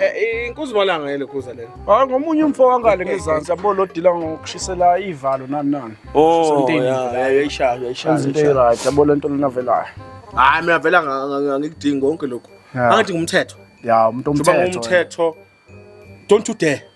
Eh, inkuzi malanga yele khuza lelo hayi ah, ngomunye umfo wangale ngezansi yabo lo dila ngokushisela ivalo nani nani oh yayishaya yayishaya into right yabo lento lena velayo hayi mina vela ngikudinga konke lokho angithi ngumthetho ya umuntu omthetho umthetho don't you dare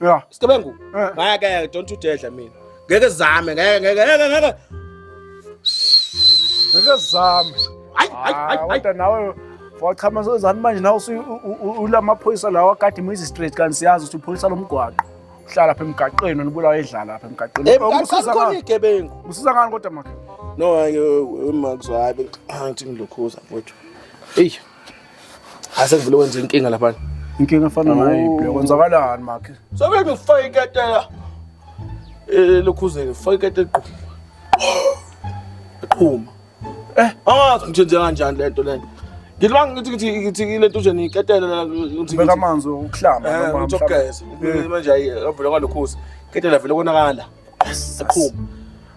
Yeah. Isigebengu. Eh. Ngeke don't udedla mina. Ngeke zame, ngeke ngeke ngeke ngeke. Ngeke zame. Hayi hayi hayi. Ah, kodwa nawe wachama sozani manje nawe ulamaphoyisa lawa kade imizi straight kanti siyazi ukuthi uphoyisa lomgwaqo. Uhlala lapha emgaqweni nibulawa edlala lapha emgaqweni. Emgaqweni khona igebengu. Usiza ngani kodwa makhe? No, ngeke umakuzwabe. Angithi ngilokhuza mfowethu. Eyi. Asevule wenze inkinga lapha. Inkinga efana nayo ibhle. Kwenzakalani makhe? Sobe ngifake iketela. Eh lokhuzeke ngifake iketela qhu. Qhuma. Eh, angazi ngithi nje kanjani lento lento. Ngilibanga ngithi ngithi ngithi lento nje niketela la ngithi Beka amanzi okuhlamba Eh, noma ngithokozela. manje ayi avule kwalokhuzi. Ketela vele konakala. Siqhuma.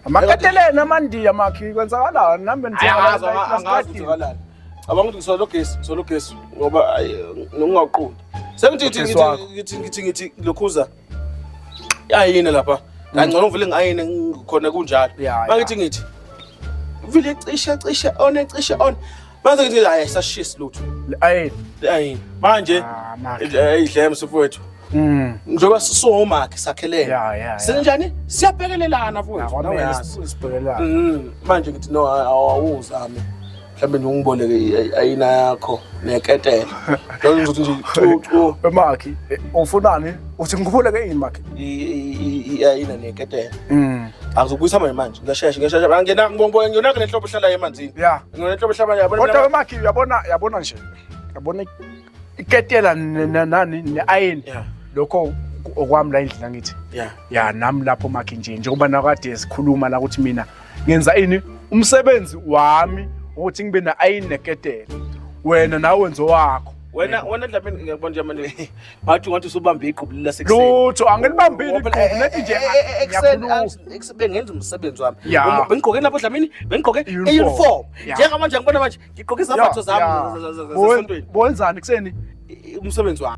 Amakateleni amandiya makhi kwenzakalani nami Ayazi angazi nje kalala. Cabanga ukuthi ngisola ugesi, ngisola ugesi ngoba ngingaqondi. Sengithi ngithi ngithi ngithi ngithi lokhuza. Ayine lapha. Kangcono ngivele ngayine khona kunjalo. Mangithi ngithi. Vile cisha cisha on cisha on. Manje ngithi hayi ayisashisi lutho. Le ayini. Le ayini. Manje Ah, makhe. eh, idle msufowethu. Mm. Njengoba sisomakhe sakhelene. Ya, ya, ya. Sinjani? Siyabhekelelana futhi. Akwamele Nawe yazi. sibuyele sibhekelelane. Mm, manje ngithi no a- awuzame mhlawumbe nje ungiboleke i- i- ayina yakho neketela lolo ngizothi nje cu- cu, We makhi, eh, ufunani? Uthi ngikhuphuleke yini makhi? i- i- i- i- ayina neketela Mm. angizokubuyisa manje manje ngiyashesha ngiyashesha angena ngibonge ngiyonake nenhlobo ehlalayo emanzini Ya. Nginenhlobo hlabanye yabona. Kodwa wemakhi uyabona yabona nje. Yabona iketela nani ne-iron. Yeah. Lokho okwami la endlini angithi. Yeah. Yeah nami lapho makhi nje njengoba nakade sikhuluma la ukuthi mina ngenza ini umsebenzi wami ukuthi ngibe na-iron neketela. Wena nawe wenzo wakho. Wena wena Dlamini ngiyakubona nje manje. Bathi ngathi usubambe iqhubu lila sekuseni. Lutho angilibambile iqhubu lethi nje ekuseni bengenza umsebenzi wami. Bengigqoke lapho dlamini, bengigqoke uniform. Njengamanje ngibona manje ngigqoke izambatho zami zasontweni. Bowenzani kuseni umsebenzi wami.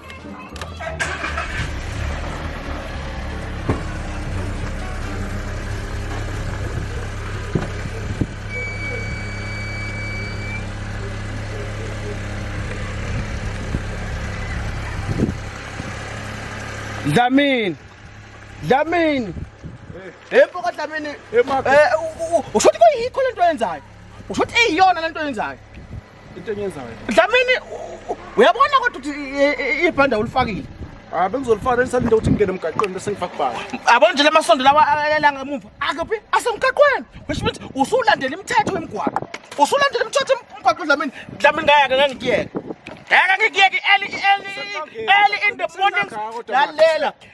Dlamini. Dlamini. Hey mfoko Dlamini. Eh usho ukuthi kuyikho lento oyenzayo. Usho ukuthi eyiyona lento oyenzayo. into enyenzayo dlamini uyabona kodwa ukuthi ibhanda ulifakile Ah bengizolifana elisalinde ukuthi ngingene emgaqweni bese ngifaka kubani. Yabona nje lamasondo lawa ayelanga emuva. Akuphi? Asemgaqweni. Which means usulandela imithetho yemgwaqo. Usulandela imithetho yemgwaqo Dlamini. Dlamini ngayake ngeke ngikuyeke. Ngeke ngikuyeke early early early in the morning. Lalela.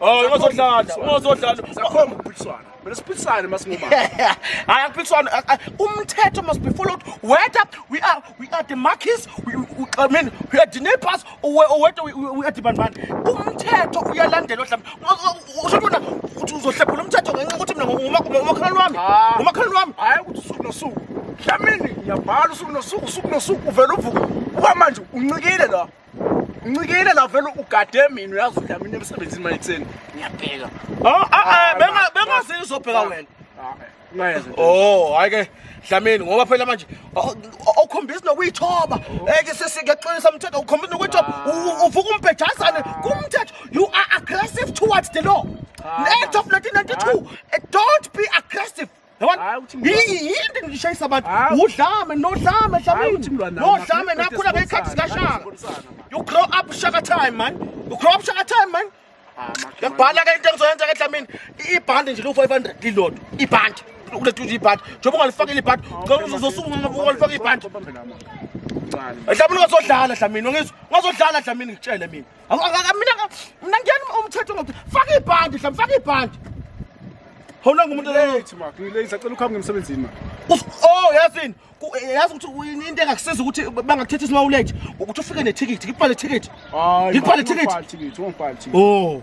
Oh, ungazodlala, ungazodlala. Sakhomba ukuphikiswana. Mina siphikisane masingoma. Hayi akuphikiswana. Umthetho must be followed. Whether we are we are the markets, we, we I mean we are the neighbors or whether we, we are the bandman. Umthetho uyalandelwa mhlawumbe. Usho bona uthi uzohlephula umthetho ngenxa ukuthi mina ngomakhalwane wami. Ah. Ngomakhalwane wami. Hayi ukuthi usuku nosuku. Dlamini ngiyabhala usuku nosuku usuku nosuku uvela uvuka. Uba manje uncikile la. ncikile la vele ugade mina uyazi ukuthi mina emsebenzini manje kuseni ngiyabheka ah, ah, ah, eh, benga bengazi izobheka wena ngayeza oh hayi ke dlamini ngoba phela manje okhombisa nokuyithoba oh. eke eh, sesikeqinisa umthetho ukhombisa nokuyithoba uvuka umbhejazane kumthetho you are aggressive towards the law Act of 1992 eh, don't be aggressive yinto ngishayisa abantu udlame nodlame dlamini nodlame nakhula ngey'khathi zikashaka you grow up shaka time man you grow up shaka time man ngiyakubhala ke into engizoyenza ke dlamini ibhande nje liwu-five hundred lilodwa ibhande ulethuza ibhande njengoba ungalifakile ibhande uzosungulifaka ibhande dlamini ungazodlala dlamini ungazodlala dlamini ngitshele mina mina ngiyani umthetho ngokuthi faka ibhandi hlam faka ibhandi hawunanga umuntu late mak ngilate sacela ukuhamba ngemsebenzini ma oh yazini yazi ukuthi into engakusiza ukuthi bangakuthetha isimawulate ukuthi ufike nethikithi ngibhale ithikithi ngibhale ithikithi oh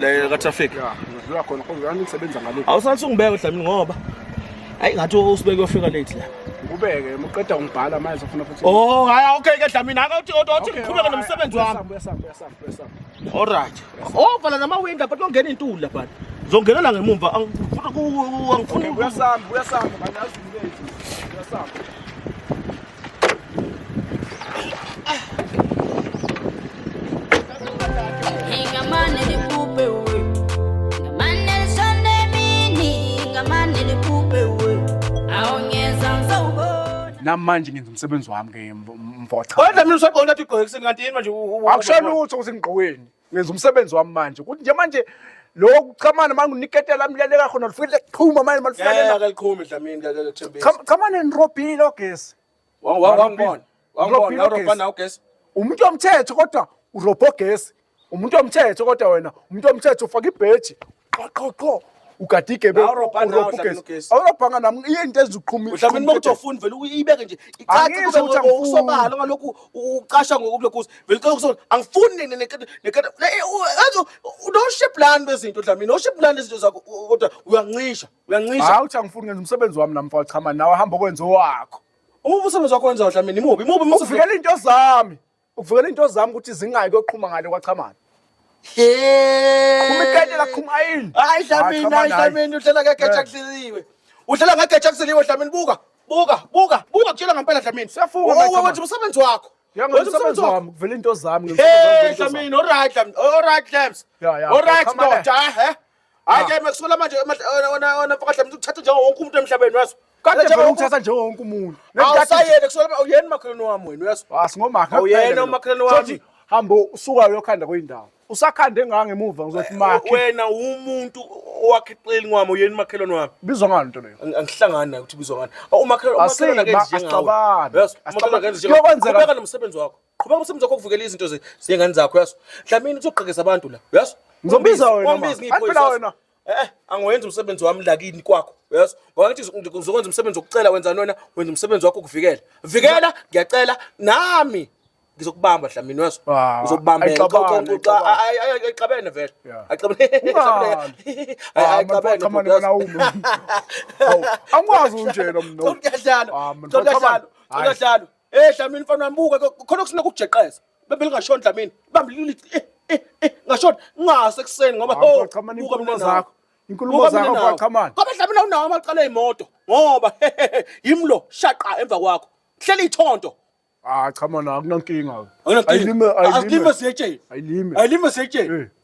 le katraffic ngidlula khona kodwa ngisebenza ngale awusathi ungibeke udlamini ngoba ayi ngathi usibeke uyofika late la ngikubeke muqeda ungibhala manje ufuna futhi oh hayi okay ke dlamini ake uthi uthi ngiqhubeke nomsebenzi wami all right oh vala nama window but ungena intuli la but zongenela ngemumva angifuni angifuni uyasamba uyasamba manje azimile uyasamba namanje ngenza umsebenzi wami ke mvocha kodwa mina usagqoka ngathi ugqoke ekuseni kanti yini manje akusho lutho ukuthi ngigqokweni ngenza umsebenzi wami manje ukuthi nje manje lokhu kuchamana manje uniketela amlaleka khona lifike kuqhuma manje malifanele akaliqhumi dlamini kakuthembisa chamana nirobhini lo gesi wangibona wangibona urobhana ugesi umuntu omthetho kodwa urobho gesi umuntu omthetho kodwa wena umuntu omthetho ufaka ibheji qho qho qho ugade igebe Awurobha nawe, urobha ugesi. uhlangene ugesi. awurobhanga nam iye into eziqhumi mhlawumbe noma ukuthi ofuni vele uyibeke nje Angisho icace ukuthi angifuni. kusobala ngalokhu ucasha ngokulokhuza vele ucela ukusola angifuni ne- ne- nekata- nekata ne- eh, u- enzo unoship lani bezinto dlamini noship lani izinto zakho u- kodwa uyancisha uyancisha hayi uthi angifuni ngenza umsebenzi wami nam mfowethu chama nawe hamba okwenza owakho uma umsebenzi wakho wenzayo dlamini imubi imubi imubi uvikela iy'nto zami Uvikela into zami ukuthi zingayi koqhuma ngale kwachamana. Uma ikayitela kuqhuma ayini. Hayi Dlamini, hayi Dlamini uhlela ngegeja kuhleliwe. Uhlela ngegeja kuhleliwe Dlamini buka. Buka, buka, buka kutshela ngempela Dlamini. Siyafunga. Owe wethu umsebenzi wakho. Yangomsebenzi wami kuvela into zami. Hey Dlamini, alright Dlamini, alright Dlamini. Alright ndoda, he. hayi ke mekusola manje ona mfakahle mntu uthatha njengo wonke umuntu emhlabeni waso kade vele uthatha njengo wonke umuntu awusayeke kusola uyena umakhelwane wami wena waso asingomakhe uyena umakhelwane wami hamba usuka uyokhanda kwindawo usakhande ngaka ngemuva ngizothi makhe wena umuntu owakhiqeli ngwami uyena umakhelwane wami bizwa ngani into leyo angihlangani nayo ukuthi bizwa ngani umakhelwane umakhelwane ke njengawe asicabange asicabange kuyokwenzeka nomsebenzi wakho qhubeka umsebenzi wakho ukuvikela izinto ze- zengane zakho yaso dlamini uzogqekeza abantu la yaso Ngizombiza wena, ma. Angifuna wena. eh angiwenzi umsebenzi wami lakini kwakho yaso ngoba ngithi uzo- uzokwenza umsebenzi wokucela wenza nona wenza umsebenzi wakho ukuvikela vikela ngiyacela nami ngizokubamba dlamini yaso Ah, uzokubambela ayixabane, ayixabane. ayixabene vele Yeah. ayixabene Ungali. Ah, man, ayixabene cha, man, bhuti, yaso. wena awume. Awu, angikwazi unjena mno. Kodwa kuyadlalwa. Ah, man, Kodwa kodwa kuyadlalwa. man. Kodwa Hayi. kuyadlalwa. Eh Dlamini mfana wami buka ke, khona kusina kujeqeza. Bebe lingashoni Dlamini. Bambi lili eh eh eh ngashoni ngase kuseni ngoba Hawu, ho Qhamani, buka inkulumo mina nawe. zakho. Inkulumo Buka mina zakho, nawe. Qhamani. Kodwa Dlamini awunawo amaqala emoto ngoba yimlo shaqa emva kwakho. Hlela ithonto. Ah cha manje akunankinga. Ayilime ayilime. Ayilime siyetsheni. Ayilime. Ayilime siyetsheni. Eh.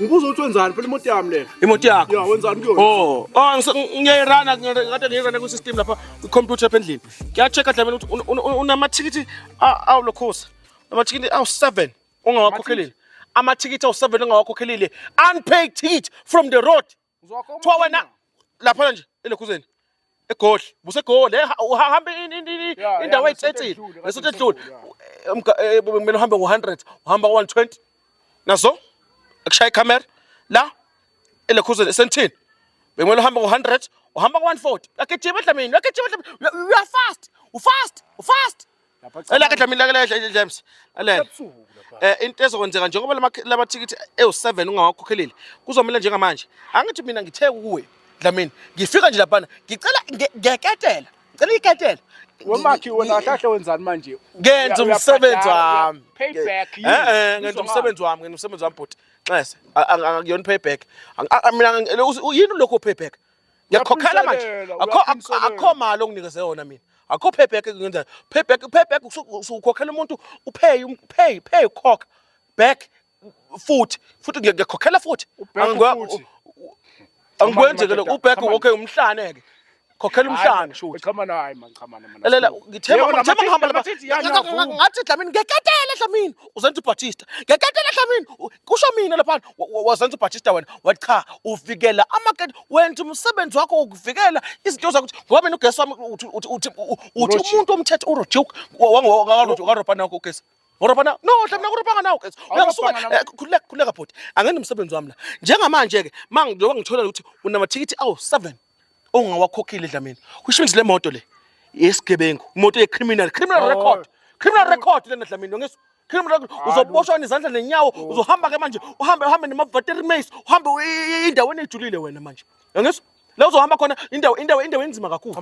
Ngibuza ukuthi wenzani phela imoto yami le. Imoto yakho. Yeah, wenzani kuyona? Oh, oh ngiyayirana ngathi ngiyirana ku system lapha ku computer lapha endlini. Ngiya check adlamela ukuthi unamathikithi awu lokhosa. Amathikithi awu 7 ongawakhokhelile. Amathikithi awu 7 ongawakhokhelile. Unpaid ticket from the road. Kuthiwa wena laphana nje elokhuzeni egoli busegoli eh, uhamba indawo ayitsetsile ngesothi edlule eh, kumele uhambe ngo-100 uhamba ngo-120 nazo akushaya ikhamera la elekhuzeni esentini bekumele uhambe ngo-100 uhamba ngo-140 uyagijima edlamini uyagijima edlamini uyafast ufast ufast Elake Dlamini lake ledla James. Alela. Eh into ezokwenzeka njengoba lamathikithi ewu7 ungawakhokhelile kuzomela njengamanje. Angithi mina ngithe kuwe Dlamini ngifika nje lapha ngicela ngeketela. Ngicela iketela. Wemakhi wena kahle wenzani manje? Ngenza umsebenzi wami. Payback. Eh eh ngenza umsebenzi wami, ngenza umsebenzi wami bhuti. Nxese. Angiyona payback. Mina yini lokho payback? ngiyakhokhela manje akho akho mali onginikeze yona mina akho payback ngenza payback payback usukhokhela umuntu upay um, pay pay ukhokha back futhi futhi ngiyakhokhela futhi angikwenzeke lokho uback okay umhlane ke khokhela umhlane shuthi chama nayo hayi man chama nayo lalela ngithemba ngithemba ngihamba lapha ngathi dlamini ngeketele dlamini uzenza ubatista ngeketele dlamini kusho mina lapha wazenza ubhatshista wena wathi cha uvikela amakete wenza umsebenzi wakho wokuvikela izinto zakuthi ngoba mina ugesi wami uthi uthi umuntu omthetho urojuke wangarobha nakho ugesi Ngorobha na? No, hlamna ngorobhanga nawo guys. Uyasuka eh, khuleka khuleka bhuti. Angene umsebenzi wami la. Njengamanje ke mangiyoba ngithola ukuthi unamathikithi awu 7 ongawakhokhile dlamini kusho ukuthi le moto le yesigebengu imoto yecriminal criminal record criminal record lena dlamini ngesu criminal record uzoboshwa izandla nenyawo uzohamba ke manje uhambe uhambe nemavateri mace uhambe indaweni ejulile wena manje ngesu la uzohamba khona indawo indawo indawo enzima kakhulu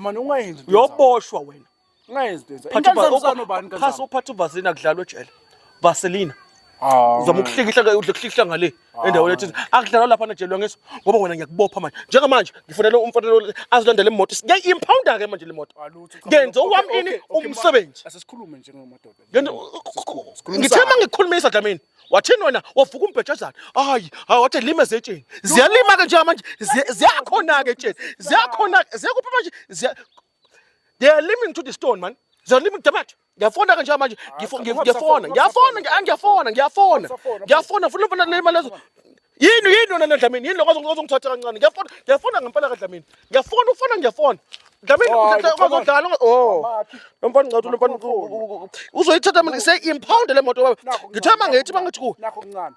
yoboshwa wena Ungayenzi into enza. Phatha uba- Inkansani ubani Phasa kansani? uphatha uvaseline akudlalwa ejele vaseline Ah. uzama ukuhlikihla ke udle kuhlikihla ngale endaweni ethize akudlalwa lapha najelwa ngeso ngoba wena ngiyakubopha manje njengamanje ngifunela umfanelo azilandele imoto ngiyayi-impounda ke manje le moto Alutho, cha, ngenze okay, owami okay, ini okay, umsebenzi Asesikhulume njengamadoda. Ngento- Sikhulumisane. ngithe uma ngikhulumisa dlamini wathini wena wavuka umbhejazana hayi hayi wathi lima zetsheni ziyalima-ke njengamanje ziya- ziyakhona-ke etsheni ziyakhona-ke ziyakuphi manje ziya They are living to the stone man. They are living to the mat. Ngiyafona kanje manje. Ah, ngiyafona. Ngiyafona. Ngiyafona. Ngiyafona. Ngiyafona. Funa funa le mali lezo. Yini yini yona Dlamini? Yini lokho ozongithatha kancane? Ngiyafona. Ngiyafona ngempela ka Dlamini. Ngiyafona ufona ngiyafona. Dlamini oh, uzodlala. Oh. Lo mfana ngicathu lo mfana uzoyithatha mina. Say impound le moto baba. Ngithema ngithi bangithi ku. Nakho kuncane.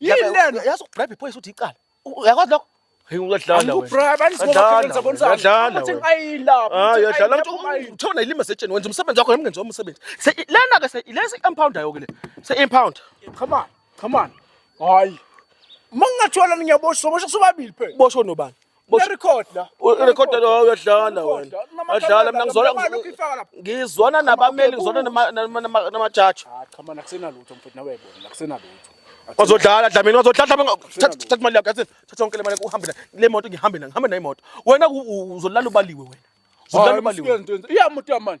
yini lena yazi ukubribe iphoyisa uthi icala uyakwazi lokho Hey uyadlala wena. Angikubribe anisibobakhona sabonisa. Uyadlala. Uthi ayilapha. Ah uyadlala ukuthi uthona ilima setsheni wenza umsebenzi wakho ngemngenzi womsebenzi. Se lena ke se lesi impound ayo ke le. Se impound. Come on. Come on. Hayi. Mangingathola ngiyaboshwa, boshwa sobabili phela. Boshwa nobani? Record la. Record la uyadlala wena. Adlala mina ngizona ngizona nabameli ngizona nama judge. Ah, cha mana kusena lutho mfethu nawe yabona kusena lutho. Wazodlala dlamini wazodlala mina thatha imali yakho yathi thatha yonke le mali uhambe nayo. Le moto ngihambe nayo ngihambe nayo imoto. Wena uzolala ubaliwe wena. Uzolala ubaliwe. Iyamuthi yamani.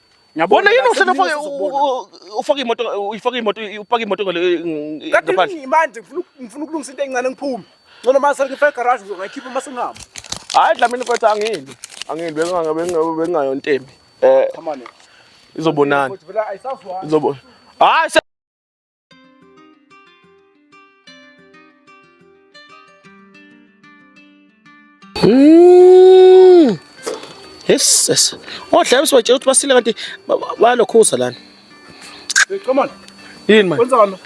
Ngiyabona yini uhlelo ufake ufake imoto uyifake imoto upake imoto ngale ngaphandle. Manje ngifuna ngifuna ukulungisa into encane ngiphume. Ngcono mase ngifake garage ngizokhipha mase ngihamba. Hayi dlamini mfethu angindi. Angindi bengabe bengabe bengayo ntembi. Eh. Izobonana. Izobona. Hayi Mm. Yes, yes. Odla usibatshela ukuthi basile kanti balokhuza lana. Come on. Yini manje? Kwenzani?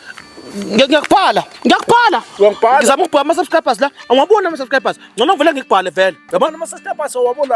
Ngiyakubhala. Ngiyakubhala. Uyangibhala. Ngizama ukubhala ama subscribers la. Awabona ama subscribers. Ngcono vele ngikubhale vele. Yabona ama subscribers awabona.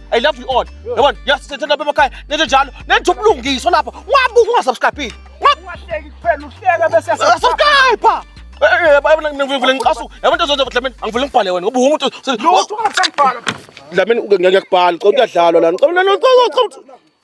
I love you all. Yabona, yasithethe lapha emakhaya nento njalo. Nento ubulungiso lapha. Ungabuka ungasubscribe. Ungahleki kuphela uhleka bese subscribe. Yabona ngivule ngicasu. Yabona into zonke Dlamini angivule ngibhale wena ngoba umuntu lutho ungasangibhala. Dlamini ngiyakubhala. Cela kuyadlalwa lana. Cela lana.